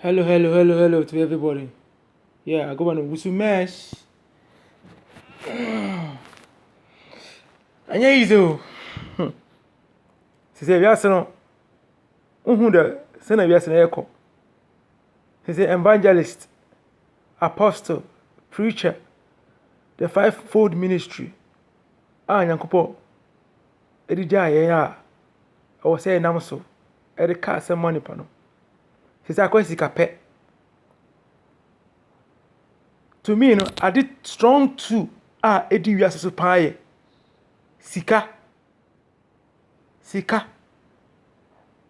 Hello, hello, hello, hello to everybody. Yeah, I go by Wusu Mesh. Anya easy o. Sisi wiase no, wohu dɛ sɛ na wiase no ɛkɔ. Sisi evangelist, apostle, preacher, the five fold ministry a Nyankopɔn de gyaa yɛn a ɛwɔ sɛ yɛnam so de ka asɛm ma nnipa no. Te sɛ akɔyɛ sikapɛ. To me no, ade strong two a ɛdi wiase so paa yɛ sika. Sika.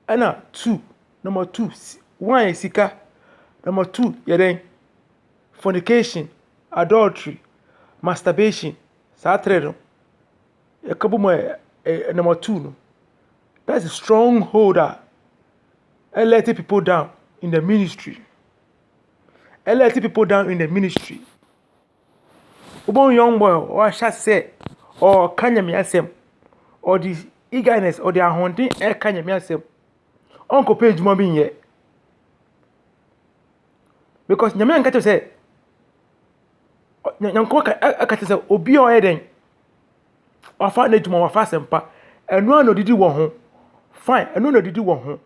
Ɛna two, number two, si- one yɛ sika, number two yɛ dɛn? Fornication, adultery, masturbation, saa tere no. Yɛka bom a, ɛyɛ number two no. That's a strong hold a ɛlɛte people down in the ministry. Ɛlɛte people down in the ministry. Wobɛhu young boy a wahyɛ sɛ ɔreka nyame asɛm. Ɔde eagerness, ɔde ahoɔden ɛreka nyame asɛm. Ɔnkɔpɛ adwuma bi nyɛ. Because nyame anka kyerɛ sɛ Nyankopɔn ka kyerɛ sɛ obi a ɔyɛ dɛn? Wafa n'adwuma, wafa asɛmpa. Ɛno ara na odidi wɔ ho. Fine, ɛno na odidi wɔ ho.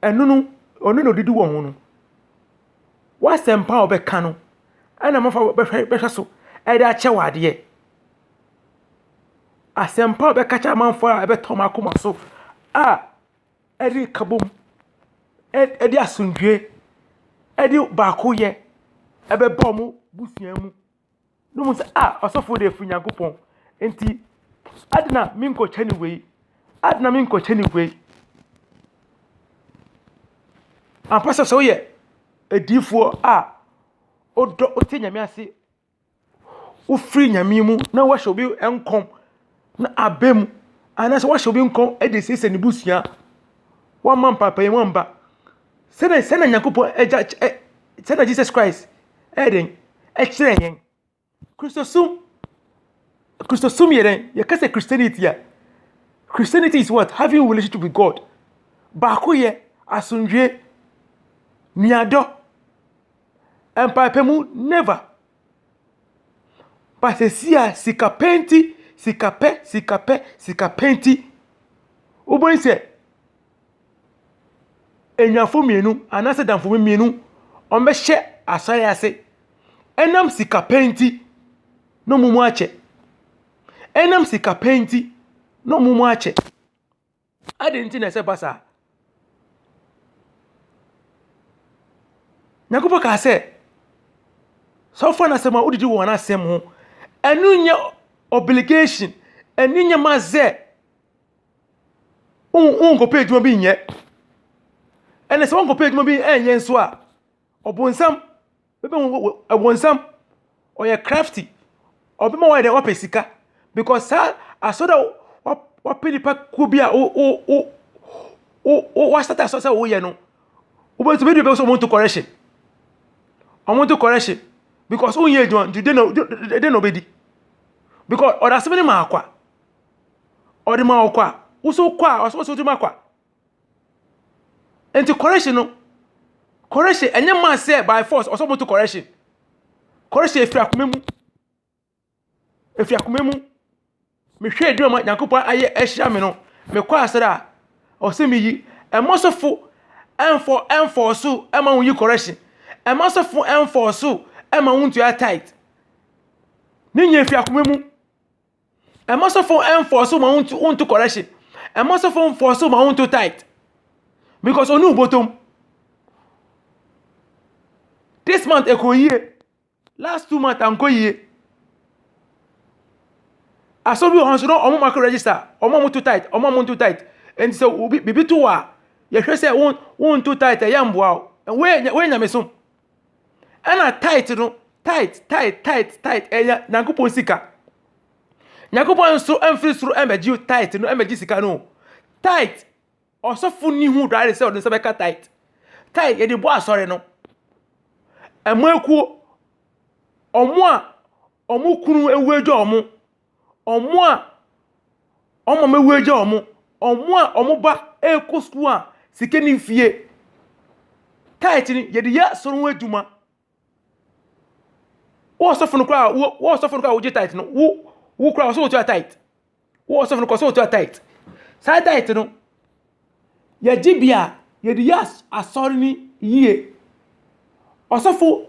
Ɛno no, ɔno na odidi wɔ ho no. W'asɛmpa a ɔbɛka no, ɛna mafa bɛhwɛ bɛhwɛ so ɛde akyɛ wɔ adeɛ. Asɛmpa a ɔbɛka kyerɛ amanfoɔ a ɛbɛtɔ wɔn akoma so a. ɛde nkabom, ɛde asomdwoeɛ, ɛde baakoyɛ ɛbɛba wɔn abusua mu. Na wɔhu sɛ a ɔsɔfoɔ deɛ ɛfiri Onyankopɔn. Enti adɛn na menkɔkyɛ no wei? Adɛn na menkɔkyɛ no wei? Ampa sɛ sɛ woyɛ odiyifoɔ a wodɔ wote Nyame ase wofiri nyame mu na wahyɛ obi nkɔm na aba mu anaasɛ wahyɛ obi nkɔm de asiesie ne busua wamma mpaepae mu amba sɛnɛ sɛnɛ nyankopɔn agya ɛ sɛnɛ jesus christ ɛyɛ dɛn ɛkyerɛ yɛn kristosom kristosom yɛ dɛn yɛka sɛ christianity a christianity is what having relationship with god baakoyɛ asomdwie nuadɔ mpaepamu never but sesia sika pɛ nti sika pɛ sika pɛ sika pɛ nti wobɛhu sɛ anyinafo mmienu anaasɛ adamfo mmienu wɔbɛhyɛ asae ase ɛnam sika pɛ nti na wɔn mu akyɛ ɛnam sika pɛ nti na wɔn mu akyɛ Adɛn nti na ɛsɛ ba saa? Nyankopɔn kaa sɛ, sɛ wofa no asɛm a wodidi wɔn asɛm ho, ɛno nyɛ obligation, ɛno nyɛ ma sɛ wonkɔpɛ adwuma bi nyɛ. Ɛna sɛ wonkɔpɛ adwuma bi nyɛ nso a, ɔbonsam Wobɛhu ɔbonsam, ɔyɛ crafty, ɔbɛma woayɛ dɛ wapɛ sika because saa asɔre a wapɛ nipa kuo bi a wasata asɔre sɛ woyɛ no, wobɛtumi adi bɛsɛ wɔn nto correction, wɔn nto correction because wonyɛ adwuma nti dɛn na dɛn na ɔbɛdi because ɔde asɛm no maa kwa, ɔde maa kwa, woso kɔ a ɔsɛ ɔsɛ wotumi akɔ a. Enti correction no, correction ɛnyɛ maa sɛ by force ɔsɛ ɔmo to correction. Correction efi akoma mu, efi akoma mu. Mehwɛ edwuma ma Nyankopɔn ayɛ ahyira me no, mekɔ asɔre a, ɔsɛ me yi. Ɛma sɔfo ɛnfɔ ɛnfɔɔso ɛma wɔn yi correction. Ɛma sɔfo ɛnfɔɔso ɛma wɔn ntua tight. Ne nyɛ efi akoma mu. Ɛma sɔfo enforce ma wontu wontu correction. Ɛma sɔfo enforce ma wontu tight. Because oni ubotom. This month ɛkɔ yie. Last two months ankɔ yie. Asɔre bi wɔ hɔ nso na wɔn mako register. Wɔn a wɔto tight, wɔn a wɔnto tight. Nti sɛ obi biribi to wɔ a, yɛhwɛ sɛ won wonto tight ɛyɛ mboa wo. Wei yɛ wei yɛ nyamesom. Ɛna tithe no, tithe, tithe, tithe, tithe, ɛyɛ Nyankopɔn sika. Nyankopɔn nso mfiri soro mmɛgye tithe no, mmɛgye sika no. Tithe, ɔsɔfo ni ho dware sɛ ɔde nsa bɛka tithe. Tithe, yɛde bɔ asɔre no. Ɛmo akuo, ɔmo a ɔmo kunu ewu agya ɔmo, wɔn a wɔn mama awu agya wɔn, wɔn a wɔn ba rekɔ sukuu a sika nni fie. Tithe no, yɛde yɛ asɔre ho adwuma. Wo ɔsɔfo no koraa a, wo wo ɔsɔfo no koraa a wogye tithe no, wo wo koraa ɔsɛ wotua tithe. Wo ɔsɔfo no koraa ɔsɛ wotua tithe. Saa tithe no, yɛ gyebea a yɛde yɛ asɔre no yie. Ɔsɔfo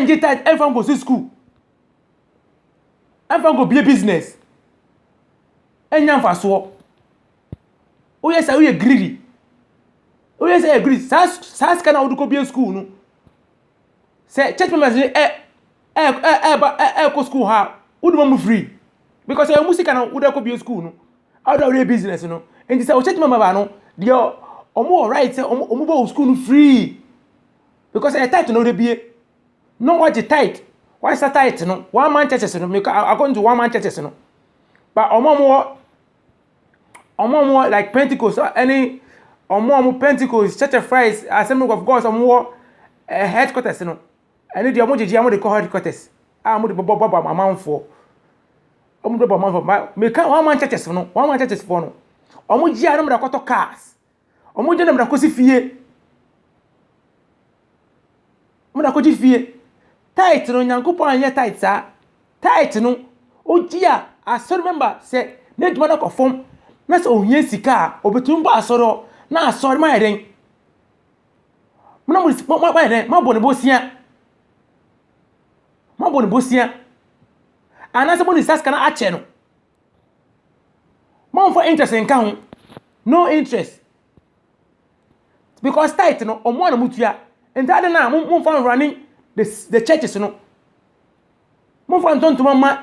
ngye tithe mfa nkɔsi sukuu, mfa nkɔbue business, ɛnnya mfasoɔ. Woyɛ saa a, woyɛ greedy. Woyɛ saa a, woyɛ greedy. Saa saa sika no a wode kɔbue sukuu no. sɛ church members no ɛ ɛ ɛ ɛba ɛ ɛkɔ school ha a wode ma mu free because ɛyɛ mu sika na wode akɔ bie school no wode awɔde business no nti sɛ wo church member ba no deɛ wɔn wɔ right sɛ wɔn wɔn bɔ wo school no free because ɛyɛ tight na wode bie na wɔgye tight wɔasa tight no one man churches no meka according to one man churches no ba wɔn a wɔwɔ. Wɔn a wɔwɔ like Pentecost ne wɔn a wɔn Pentecost Church of Christ Assembly of God wɔn wɔ eh, headquarters no. Ɛno deɛ wɔn gyegye wɔn de kɔ headquarters a wɔn de bɛbɔ bɔ amanfoɔ. Wɔn de bɛbɔ amanfoɔ. Meka wɔn aman churches no, wɔn aman churches foɔ no. Wɔn gye a na wɔde akɔtɔ cars. Ɔmo gye na mede akɔsi fie. Mede akɔgye fie. Tight no, Nyankopɔn anyɛ tight saa. Tight no, ogye a, asɔre member sɛ n'adwuma no kɔ fam na sɛ ohia sika a, obetumi ba asɔre hɔ na asɔre no ayɛ dɛn? Moayɛ dɛn? Moabɔ no bosea. Moabɔ no bosea. Anaasɛ mode saa sika no akyɛ no. Mommfa interest nka ho. No interest. Because tithe no, ɔmo na motua. Nti adɛn na mommfa nrunning the, the churches no. Mommfa ntɔ ntoma mma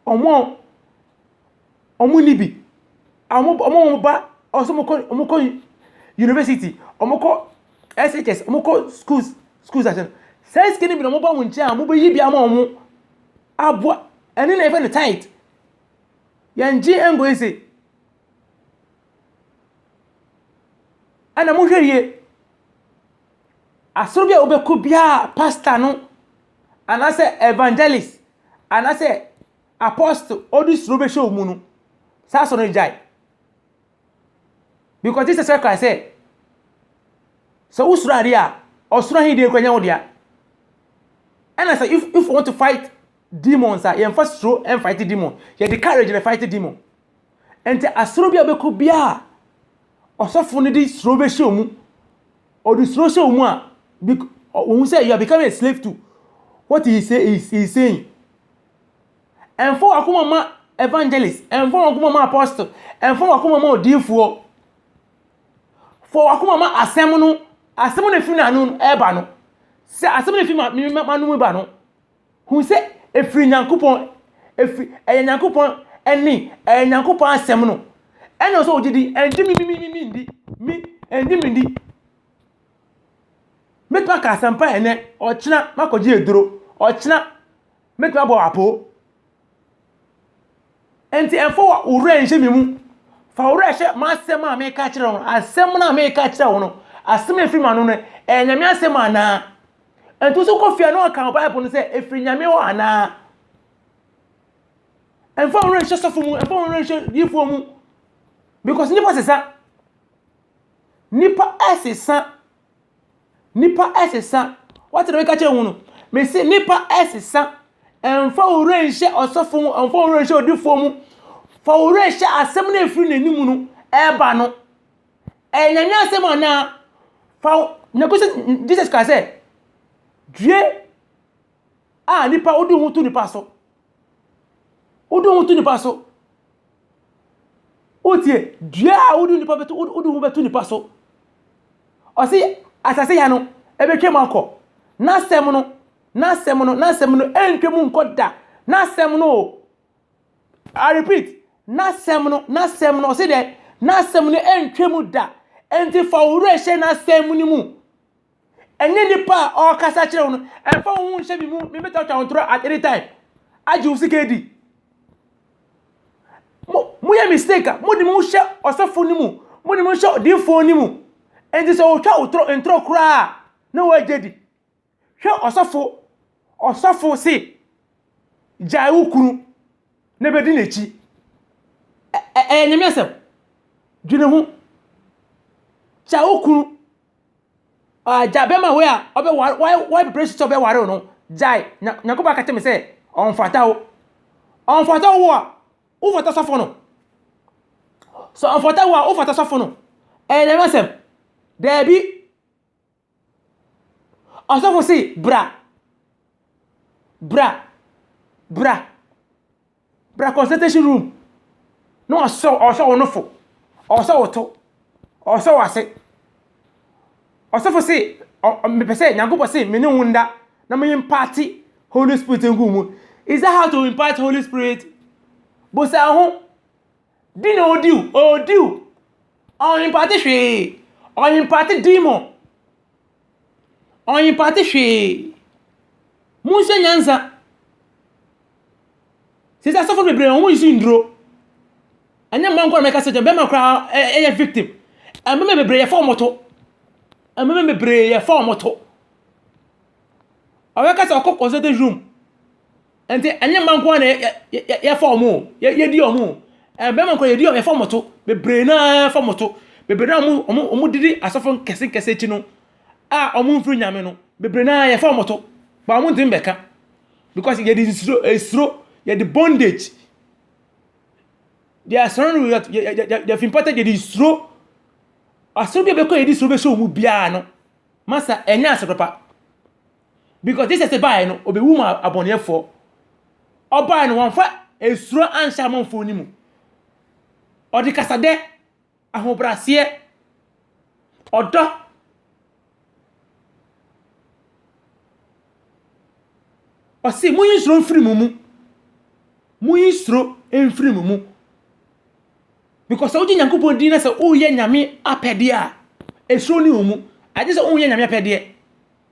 ɔmo a ɔmo nni bi. Ɔmo ɔmo ɔmo ba ɔsɛ ɔmo kɔ ɔmo kɔ university, ɔmo kɔ SHS, ɔmo kɔ schools schools ase no. Saa sika no bi na ɔmo ba mo nkyɛn a mobɛyi bi ama ɔmo. aboa ɛne na yɛfrɛ no tithe yɛngye ɛngo ese ɛna mohwɛ yie asoro bi a wobɛkɔ biara pastor no anaasɛ evangelist anaasɛ apostle ɔde suro bɛhyɛ wɔn mu no saa asoro no gyae. Because Jesus Christ kae sɛ, sɛ wosuro ade a, ɔsoro ahenni deɛ kura nyɛ wo dea. Ɛna sɛ if if you want to fight demons a, yɛmfa suro ɛnfight demon. Yɛde courage na fight demon. Ɛnti asoro bi a bɛkɔ biara, ɔsɔfo no de suro bɛhyɛ wɔn mu. Ɔde suro hyɛ wɔn mu a, wɔn sɛ you are becoming a slave to what he is saying. Ɛmfa w'akoma mma evangelist, ɛmfa w'akoma mma apostle, ɛmfa w'akoma mma odiyifoɔ. Fa w'akoma mma asɛm no, asɛm no ɛfiri n'ano ɛba no. Sɛ asɛm no ɛfiri m'ano mu ba no, hu sɛ ɛfiri Nyankopɔn, ɛfiri, ɛyɛ Nyankopɔn ɛne, ɛyɛ Nyankopɔn asɛm no. Ɛna sɛ ɔgye di, ɛngye me, me, me, me, me ndi, me, ɛngye me ndi. Mɛtumi aka asɛmpa ɛnɛ, ɔkyena makɔgye aduro, ɔkyena Mɛtumi abɔ wo apoo. Enti mfa wo werɛ nhyɛ me mu. Fa wo werɛ hyɛ m'asɛm a meka akyerɛ wo no. Asɛm no a meka akyerɛ wo no, asɛm a ɛfiri m'ano no, ɛyɛ Nyame asɛm anaa? Enti wo nso kɔ fie a na woaka wo Bible no sɛ ɛfiri Nyame hɔ anaa? Mfa wo werɛ nhyɛ sɔfo mu, mfa wo werɛ nhyɛ diifoɔ mu. Because nnipa sesa. Nnipa sesa. Nnipa sesa. Woate deɛ meka kyerɛ wo no? Mese nnipa sesa. Ɛmfa wo werɛ nhyɛ ɔsɔfo mu, ɛmfa wo werɛ nhyɛ odifoɔ mu. Fa wo werɛ hyɛ asɛm no a ɛfiri n'anim no ɛreba no. Ɛyɛ Nyame asɛm anaa? Fa wo... Na kɔsi Jesus kaa sɛ, due a nnipa wode wo ho to nnipa so. Wode wo ho to nnipa so. Wotie, dua a wode nnipa bɛto wode wo ho bɛto nnipa so. Ɔse asase ya no, ɛbɛtwam akɔ. N'asɛm no, n'asɛm no, n'asɛm no, ɛntwam nkɔ da. N'asɛm no o. I repeat, n'asɛm no, n'asɛm no, ɔse dɛ, n'asɛm no ɛntwam da. Enti fa wo werɛ hyɛ n'asɛm no mu. Ɛnyɛ nipa a ɔkasa kyerɛ wo no. Ɛmfa wo ho nhyɛ me mu. Me bɛtwatwa wo ntorɔ at any time. Agye wo sika adi. Mo mo yɛ mistake a mo de mo hyɛ ɔsɔfo no mu. Mo de mo hyɛ odiifoɔ no mu. Ɛnti sɛ ɔtwa wo torɔ ntorɔ koraa na wagye di. Hwɛ ɔsɔfo. Ɔsɔfo se gyae wo kunu na bɛdi n'akyi. Ɛyɛ nyame asɛm. Dwene ho. Gyae wo kunu. Agya bɛma wei a ɔbɛware wabere so sɛ ɔbɛware wo no gyae na Nyankopɔn aka kyerɛ me sɛ ɔmfata wo ɔmfata wo a wofata sɔfo no sɛ ɔmfata wo a wofata sɔfo no ɛyɛ nyame asɛm daabi ɔsɔfo se bra bra bra Bra consultation room na ɔsɛ ɔsɛ wo nofo. Ɔsɛ wo to. Ɔsɛ wo ase. Ɔsɛfo se mepɛ sɛ Nyankopɔn se me ne wo nda na me imparte Holy Spirit ngu mu. Is that how to impart Holy Spirit? Bosa ho. Di na odi o. Odi o. Ɔimparte hwee. Ɔimparte demon. Ɔimparte hwee. Monsua nyansa. Seesei asɔfo bebree no, wɔnsi nnuro. Ɛnyɛ mmaa nko ara na mɛka sɛ gya, mmarima koraa yɛ victim. Mmarima bebree yɛfa wɔn to. Mmarima bebree yɛfa wɔn to. Ɔbɛka sɛ ɔkɔ consulting room, Ɛnti ɛnyɛ mma nko ara na yɛfa wɔn o, yɛdi wɔn o, mmarima nkoraa yɛdi wɔn, yɛfa wɔn to, bebree no ara yɛfa wɔn to, bebree no ara a wɔdidi asɔfo nkɛse nkɛse akyi no a wɔmfiri Nyame no, bebree no ara yɛfa wɔn to, but wɔntumi mmɛka, because yɛde nsuro, esuro, yɛde bondage, they are surrounded with what, they have imparted, yɛde nsuro, asɔre bi a yɛbɛkɔ a yɛde nsuro bɛhyɛ wɔn mu biara no, masa ɛnyɛ asɔre papa. Because Jesus baeɛ no, ɔbɛwu ma abɔneɛfoɔ. Ɔbaeɛ no, wɔmfa esuro anhyɛ amanfoɔ no mu. Ɔde kasadɛ, ahobraseɛ, ɔdɔ, ɔse monyi suro mfiri mo mu. Monyi suro mfiri mo mu. Because sɛ wogye Nyankopɔn din na sɛ woyɛ Nyame apɛdeɛ a, esuro ne wo mu. Agye sɛ woyɛ Nyame apɛdeɛ.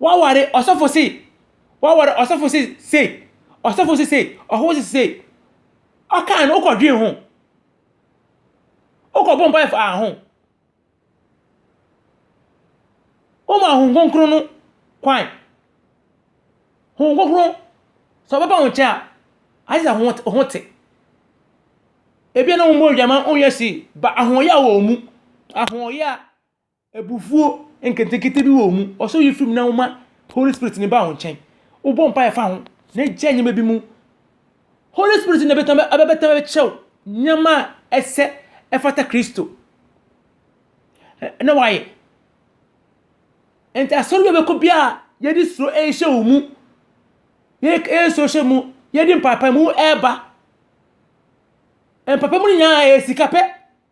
Woaware ɔsɔfo se, woaware ɔsɔfo se sei, ɔsɔfo se sei, ɔhɔho se sei. Ɔkaa no, wokɔdwen ho. Wokɔbɔ mpaeɛ faa ho. Woma Honhom Kronkron no kwan. Honhom Kronkron, sɛ ɔbɛba wo nkyɛn a, agye sɛ wo ho te. Ebia na wommɔɔ dwa ma wonyɛ see, but ahoɔyaa wɔ wo mu. Ahoɔyaa Abufuo nketenkete bi wɔ mu. Ɔsoro yi firi mu na woma Holy Spirit no ba wo nkyɛn. Wobɔ mpaeɛ fa ho na gyae nneɛma bi mu. Holy Spirit na bɛtɛm abɛbɛtɛm abɛkyerɛ wo nneɛma a ɛsɛ ɛfata Kristo na wayɛ. Nti asɔre bi a bɛkɔ biara yɛde suro ɛrehyɛ wo mu. Yɛde suro hyɛ mu, yɛde mpaepae mu ɛreba. Mpaepae mu no nyinaa ɛyɛ sika pɛ.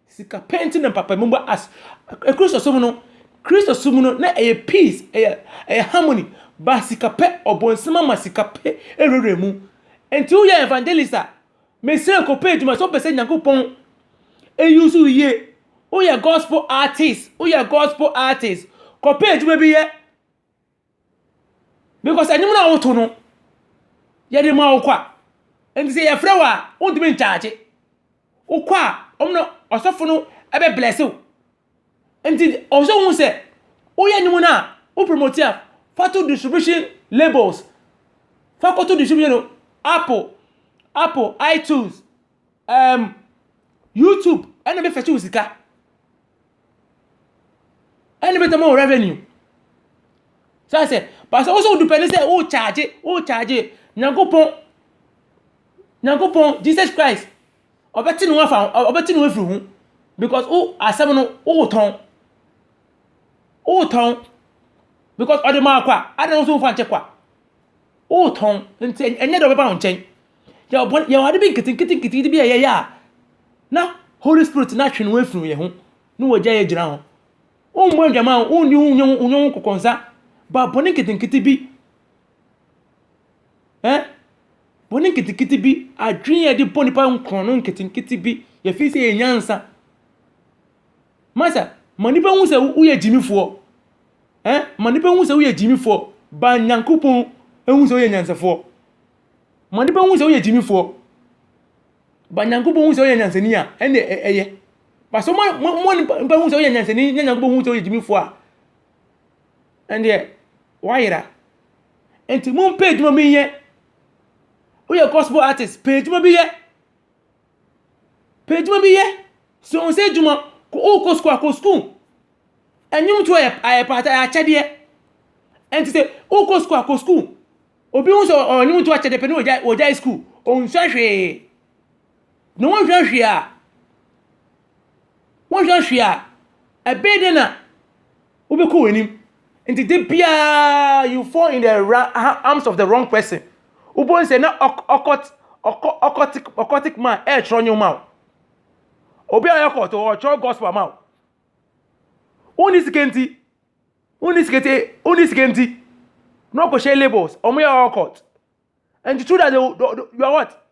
Sika pɛ nti na mpapa mu ba as Kristosom no Kristosom no na ɛyɛ peace ɛyɛ ɛyɛ harmony ba sika pɛ ɔbɔnsam ama sika pɛ ɛwurawura mu nti woyɛ evangelist a mesrɛ kɔpɛ adwuma sɛ wopɛ sɛ Nyankopɔn ɛyi so yie woyɛ gospel artist woyɛ gospel artist kɔpɛ adwuma bi yɛ Because ɛnwom no a woto no, yɛde ma wo kwa. Nti sɛ yɛfrɛ wo a, wontumi nkyagye. Wokɔ a, wɔn na ɔsɔfo no bɛ bless wo. Nti ɔwɔ sɛ wohu sɛ, woyɛ nnwom no a, wo promote a, fa to distribution labels. Fa kɔto distribution no, Apple, Apple, iTunes, Erm YouTube ɛna bɛ fɛkye wo sika. Ɛna bɛ tɛma wo revenue. Sɛ asɛ, pasɛ wo sɛ wo dupɛ ne sɛ wo charge, wo charge Nyankopɔn, Nyankopɔn, Jesus Christ, ɔbɛte ne ho afa ho, ɔbɛte ne ho afiri ho. Because wo asɛm no, wo tɔn. Wo tɔn. Because ɔde maa kwa, adɛn wo so wo fa nkyɛ kwa. Woretɔn, nti ɛnyɛ dɛ ɔbɛba wo nkyɛn. Yɛwɔ bɔne, yɛwɔ ade bi nketenkete bi a yɛyɛ a, na Holy Spirit no atwe ne ho afiri yɛn ho, na wagyae agyina hɔ. Wommɔ adwaman, wonni wo nyɛ wo nyɛ wo nkokɔnsa, ba bɔne nketenkete bi, ɛ, bɔne nketenkete bi, adwene a yɛde bɔ nipa nkorɔn no nketenkete bi, yɛfiri sɛ yɛn nyansa. Masa, ma nnipa hu sɛ woyɛ gyimifoɔ. Eh, ma nnipa hu sɛ woyɛ gyimifoɔ. Ba Nyankopɔn hu sɛ woyɛ nyansafoɔ. Ma nnipa hu sɛ woyɛ gyimifoɔ. Ba Nyankopɔn hu sɛ woyɛ nyansani a, ɛnna ɛyɛ. Ba sɛ ma nnipa hu sɛ woyɛ nyansani na Nyankopɔn hu sɛ woyɛ gyimifoɔ a, ɛndeɛ woayera. Nti mompɛ adwuma bi nyɛ. Woyɛ gospel artist, pɛ adwuma bi yɛ. Pɛ adwuma bi yɛ. Sua wo nsa adwuma. Wokɔ sukuu a, kɔ sukuu. Nnwomtoɔ yɛ akyɛdeɛ. Ɛnti sɛ wokɔ sukuu a, kɔ sukuu. Obi hu sɛ ɔwɔ nnwomtoɔ akyɛdeɛ pɛ na ɔgyae sukuu. Ɔnsua hwee. Na wonsua hwee a, wonsua hwee a, ɛbɛyɛ dɛn na. wobɛkɔ w'anim nti da biara you fall in the arms of the wrong person wobɛhu sɛ na ɔkɔt ɔkɔ ɔkɔtik ɔkɔtik ma ɛretwerɛ nneɛma o obi a ɔyɛ kɔt ɔretwerɛ gospel ama o wonni sika nti wonni sika nti wonni sika nti na ɔkɔhyɛ labels wɔn yɛ ɔkɔt and through that they, they, they, you are what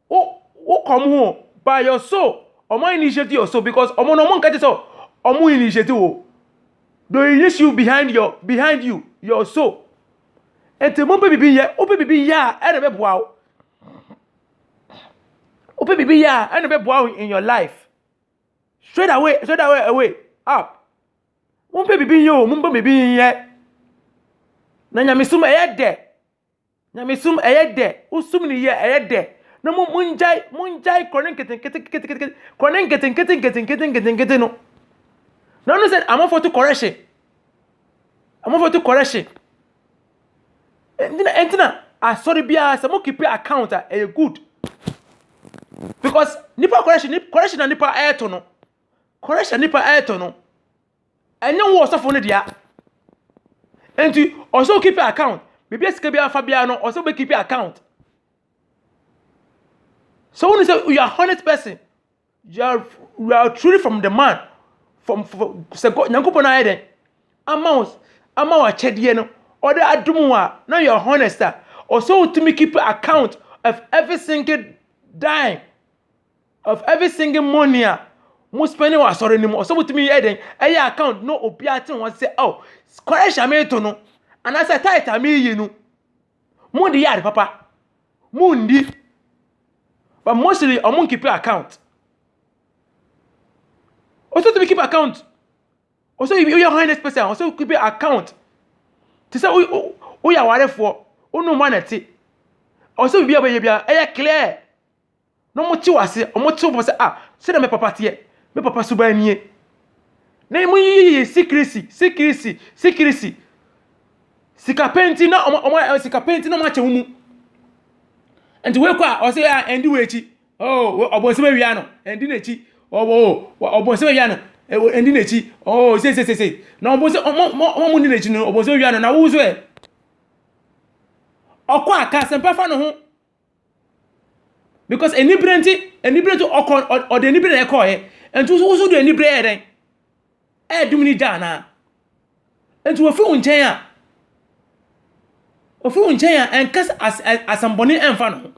wo wo kɔm ho by your soul ɔmo initiate your soul because ɔmo no ɔmo nkɛte sɛ ɔmo initiate wo they initiate you behind your behind you your soul nti mo pɛ bibi yɛ wo pɛ bibi yɛ a ɛna bɛ boa wo wo pɛ bibi yɛ a ɛna bɛ boa wo in your life straight away straight away away up. Mompɛ biribi nyɛ o, mompɛ biribi nyɛ. Na nyamesom ɛyɛ dɛ. Nyamesom ɛyɛ dɛ. Wosom no yie a ɛyɛ dɛ. Na mo mongyae mongyae korɔ ne nketenkete nketenkete korɔ ne nketenkete nketenkete nketenkete no. Na ɔno sɛ amanfoɔ to kɔrɛ hye. Amanfoɔ to kɔrɛ hye. Ɛnti na ɛnti na asɔre biara sɛ mo keep account a ɛyɛ good. Because nipa kɔrɛ hye ne kɔrɛ hye na nipa ɛɛto no. Koresh a nnipa retɔ no, ɛnyɛ wo ɔsɔfo no dea. Enti, ɔsɛ okipi account. Biribi a sika biara fa biara no, ɔsɛ wobɛkipi account. So when you say you are honest person, you are, you are truly from the man, from, from sɛ God, Nyankopɔn ayɛ dɛn? Ama wo, ama wo akyɛdeɛ no, ɔde adom wo a, na you are honest a, ɔsɛ wotumi keep account of every single dime of every single money a mo spending wɔ asɔre no mu ɔsɛ wotumi yɛ dɛn ɛyɛ account na obi ate ho ase sɛ oh kɔrɛhyɛ a meto no anaasɛ tight a meyi no mo de yɛ ade papa mo ndi but mostly ɔmo nkeep account ɔsɛ tumi keep account ɔsɛ woyɛ honest person ɔsɛ keep account te sɛ woyɛ awarefoɔ wonom anɛte ɔsɛ biribi a wɔyɛ biara ɛyɛ clear na wɔte wo aseɛ wɔte wo pɔ sɛ ah sɛdeɛ me papa teɛ me papa suban nie na ɛmu yiyi sikirisi sikirisi sikirisi sika penti na wɔn wɔn sika penti na wɔn akyɛ wɔn mu nti wei kɔ a ɔsɛ ah ɛndi wɔ akyi oh ɔbɔnsɛm awia no ɛndi n'akyi ɔwɔ ɔbɔnsɛm awia no ɛndi n'akyi oh sesesese na ɔbɔnsɛm wɔn wɔn wɔn ndi n'akyi no ɔbɔnsɛm awia no na wosoɛ ɔkɔ a ka asɛmpa fa ne ho. because anibere nti anibere nti ɔkɔ ɔde anibere na ɛkɔɔɛ nti woso woso de anibere ɛyɛ dɛn ɛɛdum ne gya anaa nti wofi wo nkyɛn a ofi wo nkyɛn a ɛnka as asɛmbɔne ɛnfa ne ho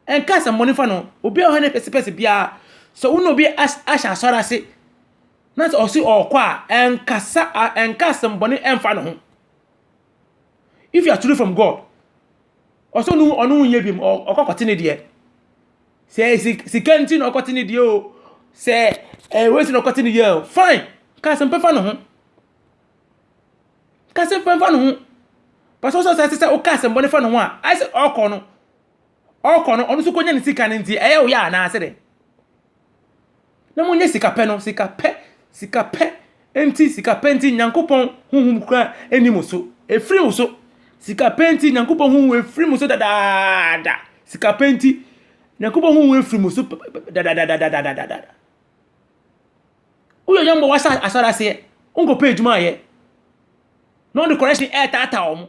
ɛnka asɛmbɔne nfa ne ho obi a ɔha ne pɛsɛpɛsɛ biara sɛ wo ne obi as ahyɛ asɔre ase na sɛ ɔse ɔɔkɔ a ɛnkasa ɛnka asɛmbɔne ɛnfa ne ho. if you are truly from god ɔsɛ ɔno ɔno ho nyɛ bi mu ɔkɔ kɔte ne deɛ sɛ sika nti na ɔkɔte ne deɛ o sɛ ɛwɔ si na ɔkɔte ne deɛ o fine kasɛm pɛ fa ne ho kasɛm pɛ fa ne ho pàṣẹ ɔsɛ ɔsɛ sɛ ɔka asɛm bɔ ne fa ne ho a ayɛ sɛ ɔkɔ no ɔkɔ no ɔno nso kɔnya ne sika no nti ɛyɛ ɔyɛ anaasɛ dɛ Na monyɛ sika pɛ no, sika pɛ, sika pɛ nti, sika pɛ nti, Nyankopɔn honhom kura ɛni mo so, ɛfiri mo so, sika pɛ nti, Nyankopɔn honhom ɛfiri mo so dadaada, sika pɛ nti, Nyankopɔn honhom ɛfiri mo so dadaadadadadadada. Woyɛ yɔmbɔ wasa asɔre aseɛ, wonkɔpɛ adwuma ayɛ, na wɔde correction ɛɛtaataa wɔn.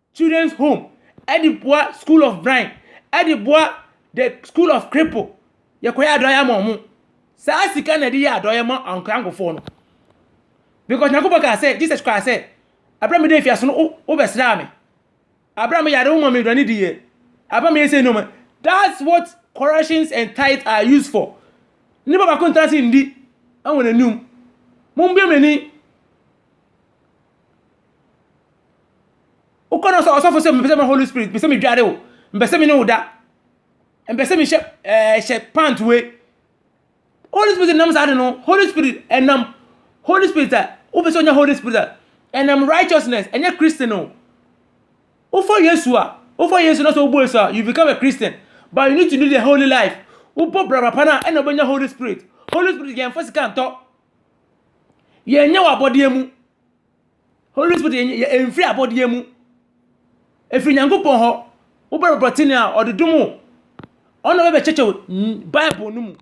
Children's Home de boa School of Blind de boa the School of Cripple yɛkɔyɛ adɔeɛ ama wɔn saa sika na yɛde yɛ adɔeɛ ma ankorankɔ nkorɔfoɔ no because Nyankopɔn kaa sɛ Jesus kaa sɛ abira mi de nfia so no wo bɛ sra mi abira mi yare wo ma mi aduane di yɛ abira mi yɛ sɛ nneɛma that's what corrections and tithe are used for nipa baako ntena se ndi ɛwɔ n'anim mo mbie m'ani. Wokɔ no sɛ ɔsɔfo sɛ mepɛ sɛ me Holy Spirit, mepɛ sɛ medware o, mepɛ sɛ me ne wo da, mepɛ sɛ mehyɛ ɛɛ hyɛ pant we. Holy Spirit nam saa de no, Holy Spirit ɛnam Holy Spirit a wopɛ sɛ onya Holy Spirit a ɛnam righteousness ɛnyɛ Christian o. Wofɔ Yesu a, wofɔ Yesu na sɛ wobɔ Yesu a, you become a Christian, but you need to live a holy life. Wobɔ braba pa no a ɛna wobɛnya Holy Spirit. Holy Spirit yɛn mfa sika ntɔ, yɛn nyɛ wɔ abɔdeɛ mu. Holy Spirit yɛ yɛ mfiri abɔdeɛ mu. Ɛfiri Nyankopɔn hɔ. Wobɛ brɔtene a, ɔde dom wo. Ɔno bɛ bɛkyɛkyɛ wo Bible no mu.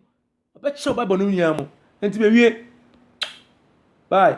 Ɔbɛkyɛ wo Bible no nyinaa mu. Nti bɛwie. Bye.